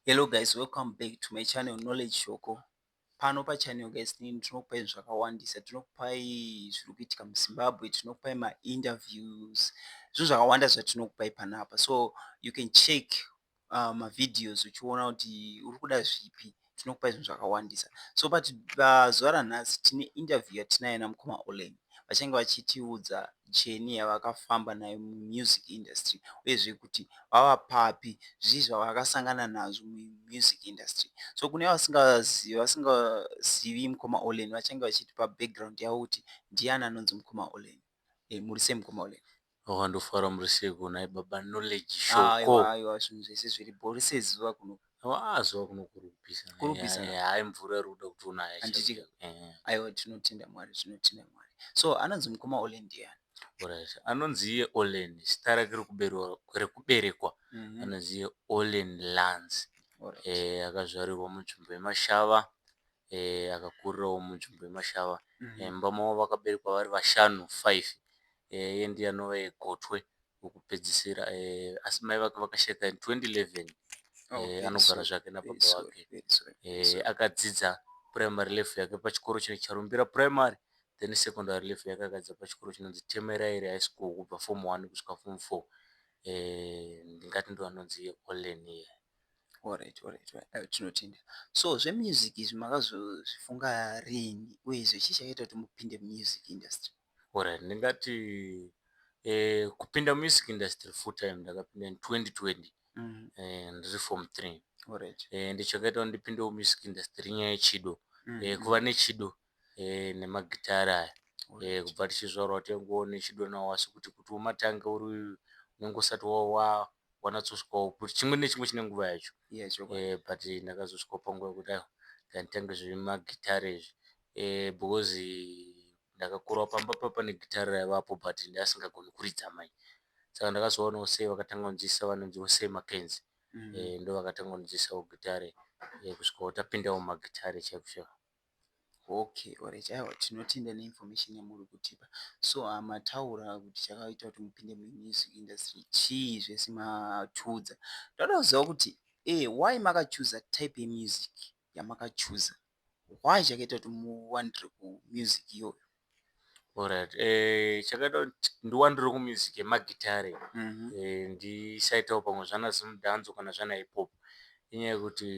Hello guys, welcome back to my channel Knowledge Shoko. Pano pa channel guys nini tinokupai zvakawandisa, tinokupai zviri kuitika muZimbabwe, tinokupai ma interviews, zvinhu zvakawanda zvatinokupai panapa. So you can check uh, ma videos uchiona kuti uri kuda zvipi. tinokupai zvinhu zvakawandisa so but pazuva ranhasi tine interview yatinayo namukoma Olen vachange vachitiudza cheni yavakafamba nayo muMusic Industry uyezve kuti vava papi zvii zvavakasangana nazvo muMusic Industry so kune vasingazivi vasingazivi mukoma Olen vachange vachitipa background yavo kuti ndiani anonzi mukoma Olen Eh muri sei mukoma Olen. Haa ndofara muri seiko nhai baba Knowledge show ko. Aiwa aiwa zvinhu zvese zviri bho risei zuva kuno. Haa zuva kuno kuri kupisa. Kuri kupisa eh, haa mvura iri kuda kutonaya. Handiti ka. Eh. Aiwa tinotenda Mwari tinotenda Mwari. So anonzi mukoma Olen ndiyani? Alright. Anonzi iye Olen zita rake rekuberekwa mm -hmm. anonzi iye Olen Lance. Alright. Eh akazvarirwa munzvimbo yemashava. akakurirawo munzvimbo yemashava mumba mavo vakaberekwa vari vashanu five iye ndiye anova gotwe rekupedzisira asi mai vake vakasheka in 2011 anogara zvake nababa vake akadzidza primary level yake pachikoro chinonzi Charumbira primary then secondary level yake akadzidza pachikoro chinonzi Temeraire high school kubva form one kusvika form four ndingati ndiwo anonzi Olen iye. Alright alright tinotenda so zvemusic izvi makazozvifunga riini uyezve chii chakaita kuti mupinde muMusic industry. Alright ndingati kupinda muMusic industry full time ndakapinda in 2020 ndiri form three and chakaita kuti ndipindewo muMusic industry inyaya yechido kuva nechido eh, nemagitare aya eh, kubva tichizvarwa watengowo nechidonawo wasi kuti kuti umatange uri uyu unenge usati wanatsosvikawo kuti chimwe nechimwe chine nguva yacho eh, but ndakazosvikawo panguva yekuti aiwa ndanditange zvemagitare izvi eh, because ndakakurawo pamba pa pane gitare raivapo but ndasingagoni kuridza mai saka ndakazoonawo sei vakatanga kunzisa vanonziwo sei makenzi mm. eh, ndo vakatanga kunzisawo gitare eh, kusvikawo tapindawo magitare chaiko chaiko Okay or chaiwo tinotenda neinformation yamuri kutipa so haa mataura kuti chakaita kuti mupinde muMusic industry chii zvese matiudza toda kuziva kuti why makachuza type yemusic yamakachuza why chakaita kuti muwandire kuMusic iyoyo. Alright eh chakaita kuti ndiwandire kuMusic yemaGitare eh ndisaitawo pamwe zvana Zimdance kana zvana Hip Hop inyaya yekuti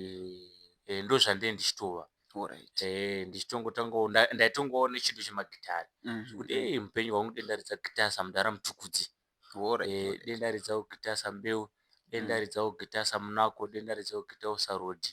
eh ndozvandee ndichitova Alright eh ndichitongotangawo ndaitongovawo nechinhu chemaGitare zvekuti eh mupenyu hwangu dai ndaridza Gitare samudhara Mtukudzi. Sure eh, denda ridza kugitasa mbeu denda ridza kugitasa munako denda ridza kugitausa road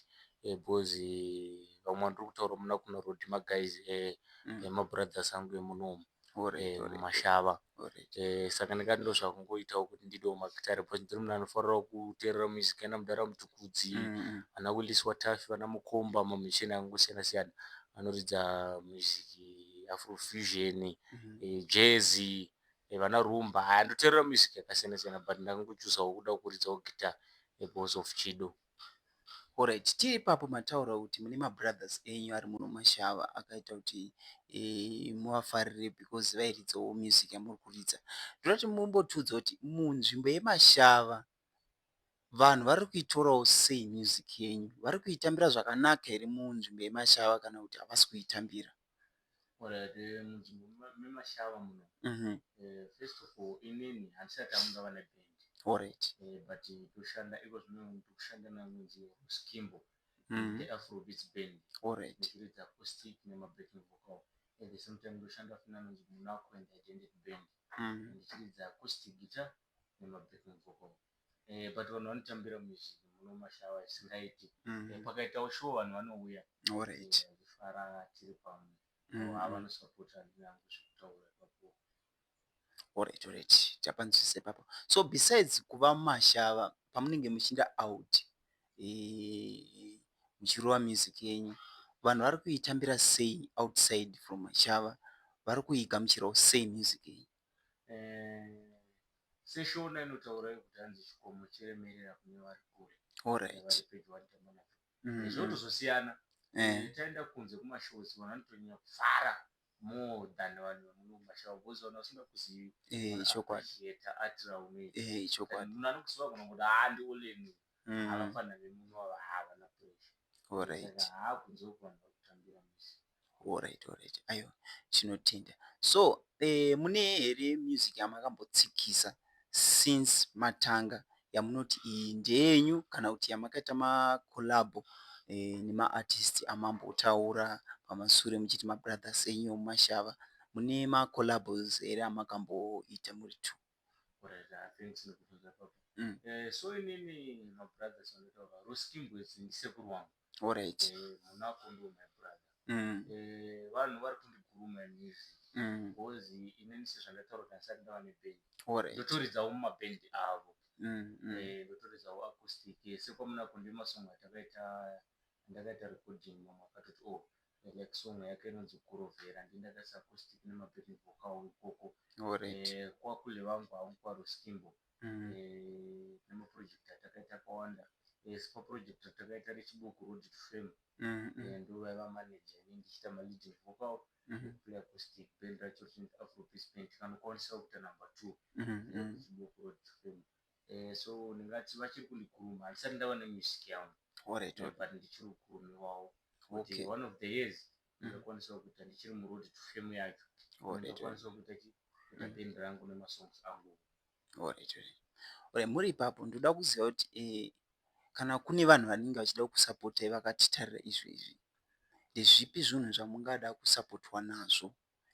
eh, because eh, vamwe vandiri kutaura muna kuno road maguys eh, eh, mabrothers angu emuno umu Sure eh, sure mashava sure eh, saka ndikati ndo zvakungoitawo kuti ndidewo magitare because ndiri munhu anofarirawo kuteerera music yana mudhara mutukudzi Mm, ana willis watafi vana mukomba mamisheni akangosiyana siyana anoridza music afrofusion mm, eh, jazzy vana Rumba haa ndoterera music yakasiyana siyana but ndango chooser wekuda kuridzawo guitar because of Chido. Horaiti tii ipapo mataura kuti mune mabrothers enyu ari muno mashava akaita kuti muvafarire because vairidzawo music yamuri kuridza. Ndoda kuti mumbotiudza kuti munzvimbo yemashava Vanhu vari kuitorawo sei music yenyu? Vari kuitambira zvakanaka here munzvimbo yeMashava kana kuti havasi kuitambira? Alright munzvimbo meMashava muno first of all inini handisati amuna vane band alright but toshanda iko zvino tokushanda nanonzi Skimbo the Afrobeats band alright ndichiridza acoustic nemabacking vocal at the same time ndoshanda futi nanonzi Munaku and Identity band ndichiridza acoustic guitar nema backing vocal eh, but vanhu vanotambira music muno mashawa isingaiti mm. eh, pakaitawo show vanhu vanouya right. eh, vachifara tiri pamwe mm. ava vanosapota handina hangu zvekutaura ipapo alright alright tapanzwisisa ipapo so besides kuva mashava pamunenge muchiinda out eh, muchirova music yenyu vanhu vari kuitambira sei outside from mashava vari kuigamuchirawo sei music yenyu seshona inotaura kuti hanzi chikomo chiremerera kune vari kure vari pedyo vanotamba nacho mm-hmm. zvinotozosiyana eh. eh, taenda kunze kumashows vanhu vanotonyanya kufara more than vanhu vamuno kumashow because vanhu vasingakuzivi eh, chokwadi yeta atiraune chokwadi munhu anokuziva kana kuti haa ndi oleni mm. havafanira vemuno ava haa vana pressure haa kunze uku vanhu vakutambira misi Alright alright aiwa tinotenda so mune here music yamakambotsikisa since matanga yamunoti iyi ndeyenyu kana kuti yamakaita ma collabo nema artists amambotaura pamasure muchiti ma brothers enyu emuMashava mune ma collabos here amakamboita muri two. Alright thanks nekubvunza ipapo so inini ma brothers andinotaura Ruskimbwedzi ndisekuru wangu Alright. Eh, muna kondo my brother. Mm. Eh, vanhu vari kundiguruma news. Mm. Because inini sezvandataura kuti asati ndava neband. Alright. Ndotoridzawo mumaband avo. Mm. mm. Eh, ndotoridzawo acoustic. Eh, sekwamuna kondo masong atakaita ndakaita recording mamwe akatoti oh like song yake inonzi kurovera ndindakaisa acoustic nemaband vocal ikoko. Alright. Eh, kwakule vangu haungu kwaroskimbo. nemaproject atakaita akawanda asi paproject ratakaita rechibuku road to fame ndovaiva manager ini ndichiita maleading vocal nekuplayer acoustic band racho richinzi afropeace band tikanokwanisawo kuita number two rechibuku road to fame so ndingati vachiri kundikuruma handisati ndava nemusic yangu but ndichiri kukurumiwawo kuti one of the years ndakwanisa kuita ndichiri muroad to fame yacho ndakwanisa kuita chi kuita mm. band rangu nemasongs angu alright alright muri ipapo ndoda kuziva kuti eh, kana kune vanhu vanenge vachida kusapotai vakatitarira izvi izvi ndezvipi zvinhu zvamungada kusapotwa nazvo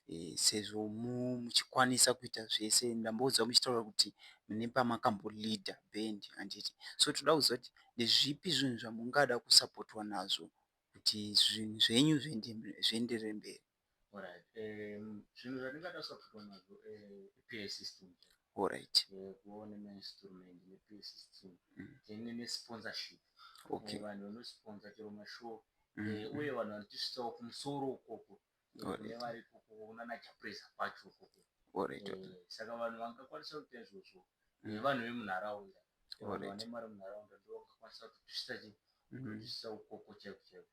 eh, sezvo muchikwanisa kuita zvese ndamboudzwa muchitaura kuti mune pamakambolida band handiti so toda kuziva kuti ndezvipi zvinhu zvamungada kusapotwa nazvo kuti zvinhu zvenyu zvienderere mberi. Alright um zvinhu zvatingatarisa kupfekwa nazvo um pay system chaiyo. Alright. Um kuvawo nema instrument ne pay system then ne sponsorship. Okay. Vanhu vano sponsor chero ma show uye vanhu vanotisvitsawo kumusoro ikoko saka vanhu vangakwanisa kuita izvozvo nevanhu vemunharaunda vanhu vane mari munharaunda ndovangakwanisa kutosvitsa chii kutosvitsa ukoko chaiko chaiko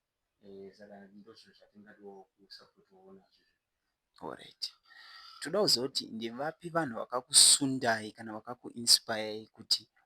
saka ndozvinhu zvatingadiwo kusapotiwawo nazvo orit toda kuziva kuti ndevapi vanhu vakakusundai kana vakakuinspayai kuti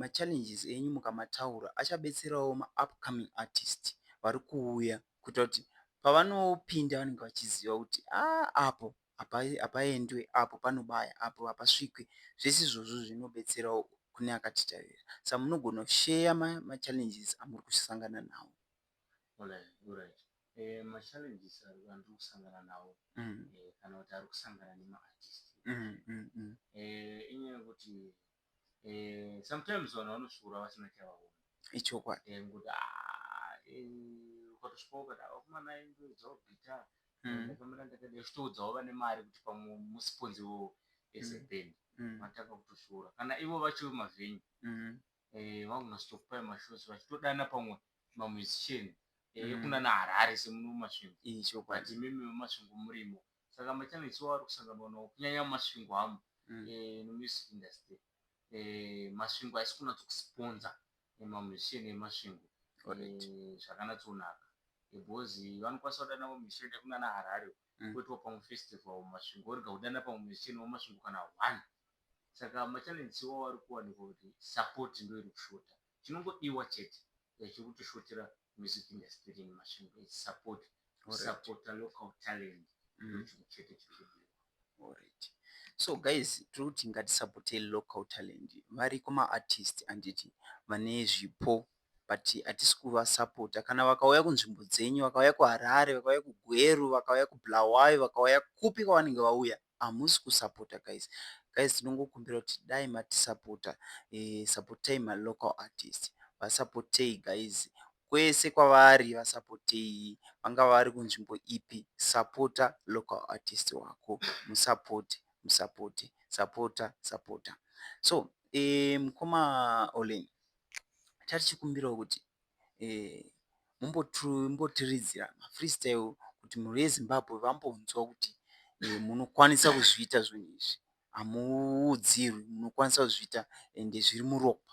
ma challenges enyu mukamataura achabetserawo ma upcoming artist varikuuya kuitira kuti pavanopinda vanenge vachiziva kuti aa apo hapaendwe apo panobaya apo hapasvikwe zvese izvozvo zvinobetserawo kune akatitarira saka munogona kusheya ma challenges amuri kusangana nawo. eh, sometimes vanhu vanosvuura vasina chavaona ichokwadi eh, ngokuti ah, eh, ukatosvika ukati ah, vakomana aimboedzawo gita mm. ndakamira ndakadai uchitoudzawo vane mari kuti pamwe musiponzi iwowo as a mm. band mm. matanga kutosvuura kana ivo vacho vemavenyu mm. eh, vangunasitokupai mashows vachitodana pamwe mamusician eh, mm. ekunana harare semuno mumasvingo ichokwadi mimi mumasvingo murimo Saka maChannels iwawo ari kusanganwa nawo kunyanya muMasvingo amo nomuMusic Industry. Masvingo haisi kunatso kusponser maMusician eMasvingo zvakanatsonaka because vanokwanisa kudana vamwe musician vakaita kunana Harare uko poitwa pamwe festival muMasvingo vorega kudana pamwe musician wemuMasvingo kana one. Saka maChannels iwawo ari kuwanikwa kuti support ndoiri kushota. Chinongodiwa chete yachiri kutisvotera music industry yedu nemashandiro edu support to supporter local talent ndochinhu chete chiri kudiwa. Alright so guys tiri kuti ngatisupportei local talent variko maartist handiti vane zvipo but hatisi kuvasupporter kana vakauya kunzvimbo dzenyu vakauya kuHarare vakauya kuGweru vakauya kuBulawayo vakauya kupi kwavanenge vauya hamusi kusapota guys guys tinongokumbira kuti dai matisapota sapotai ma local artist vasapotei guys kwese kwavari vasapotei vangava vari kunzvimbo ipi sapota local artist wako musapote musapote sapota sapota so mukoma olen tatichikumbirawo kuti mombotiridzira mafreestyle kuti mhuri yeZimbabwe vambonzwa kuti munokwanisa kuzviita zvinhu izvi. Hamuudzirwi, munokwanisa kuzviita ende zviri muropa.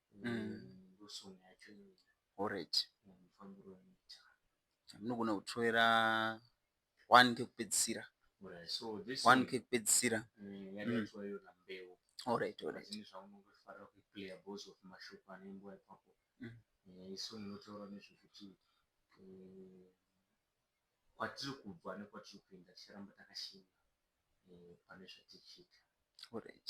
ndosong yacho iyoyo alright mufambiro wanoita chamunogona kutroera one kekupedzisira one kekupedzisira alright alright zvaunongofarira kuplayer because of mashoko anengo ipapo isu munotaura nezvekuti kwatiri kubva nekwatiri kuenda ticharamba takashinga pane zvatichiita alright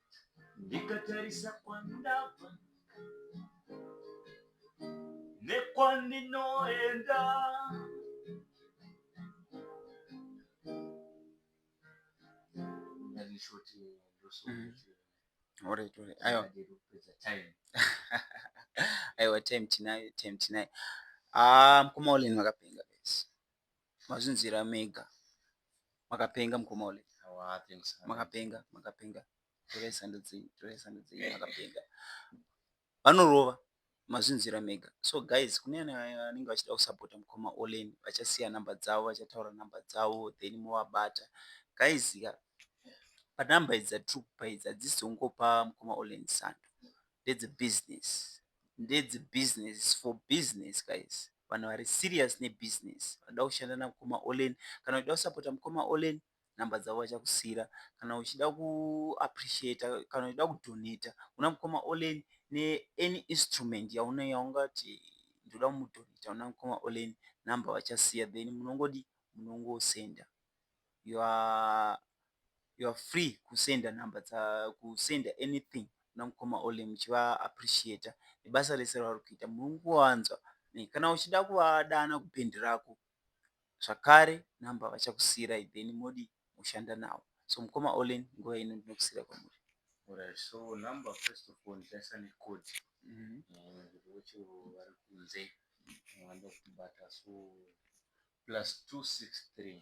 ndikatarisa kwandabva nekwandinoenda ndandishoti ndosokuti Alright, alright. Aiwa. Aiwa time tinayo, time tinayo. Ah, mkoma Olin vakapenga guys. mazvinzwira mega makapenga mukoma ule makapenga makapenga torai sando dzenyu torai sando dzenyu makapenga vanorova mazvinzwira mega so guys kune anenge vachida kusapota mukoma olen vachasiya number dzavo vachataura number dzavo then movabata guys ka panumber idzi dzatiri kupa idzi hadzisi dzongopa mukoma olen sando ndedzebusiness ndedzebusiness for business guys vanhu vari serious ne business vanoda kushanda na mukoma Olen kana uchida kusapota mukoma Olen number dzavo vachakusiira kana uchida ku appreciator kana uchida ku donator kuna mukoma Olen ne any instrument yaungati ndoda kumu donator kuna mukoma Olen number vachasiya then munongodii munongo sender. you are you are free kusenda number dza kusenda anything kuna mukoma Ole muchiva appreciator nebasa rese ravari kuita muri kungowanzwa ne kana uchida kuvadana kupendi rako zvakare number vachakusiirai then modi mushanda navo so mukoma Ole nguva ino ndinokusiira kwamuri Alright, so number first of all ndasa ne code Mhm. eh, kuti wacho vari kunze vanoda kutibata so plus 263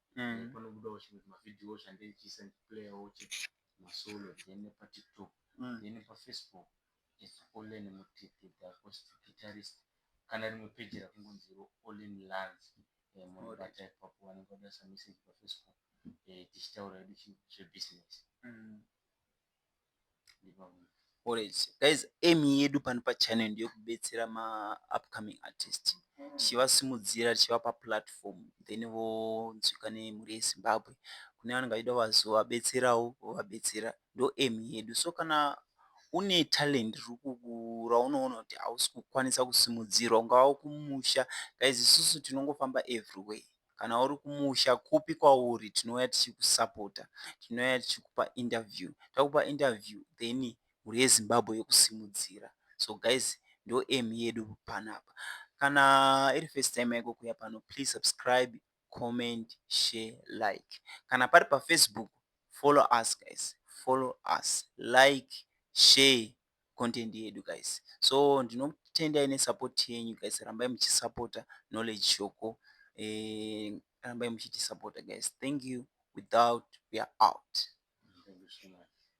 mm. panobudawo chimwe mavideo change ndichiisa ndichiplayawo chete masolo then patiktok mm. then pafacebook its olen mutete the acoustic guitarist kana rimwe peji rakungonziro olen lans eh, munobata ipapo vanenge vadaisa message pafacebook eh, tichitaura edu chebusiness mm. Alright. Guys, aim yedu pano pachannel ndeyekubetsera maupcoming artist tichivasimudzira tichivapa platform then vonzwika nemhuri yezimbabwe kune vanenge vachida kuvazovabetserawo vovabetsera ndo aim yedu so kana une talent raunoona kuti hausi kukwanisa kusimudzirwa ungava kumusha guys isusu tinongofamba everywhere Kana uri kumusha kupi kwauri tinouya tichikusapota. Tinouya tichikupa interview. Takupa interview then mhuri yeZimbabwe yokusimudzira. So guys ndo aim yedu panapa. Kana iri first time yako kuuya pano please subscribe, comment, share, like. Kana pari paFacebook follow us guys. Follow us. Like, share. content yedu guys so ndinotendai nesupport yenyu guys rambai muchisupporta knowledge shoko eh, rambai muchitisupporta guys thank you without we are out thank you so much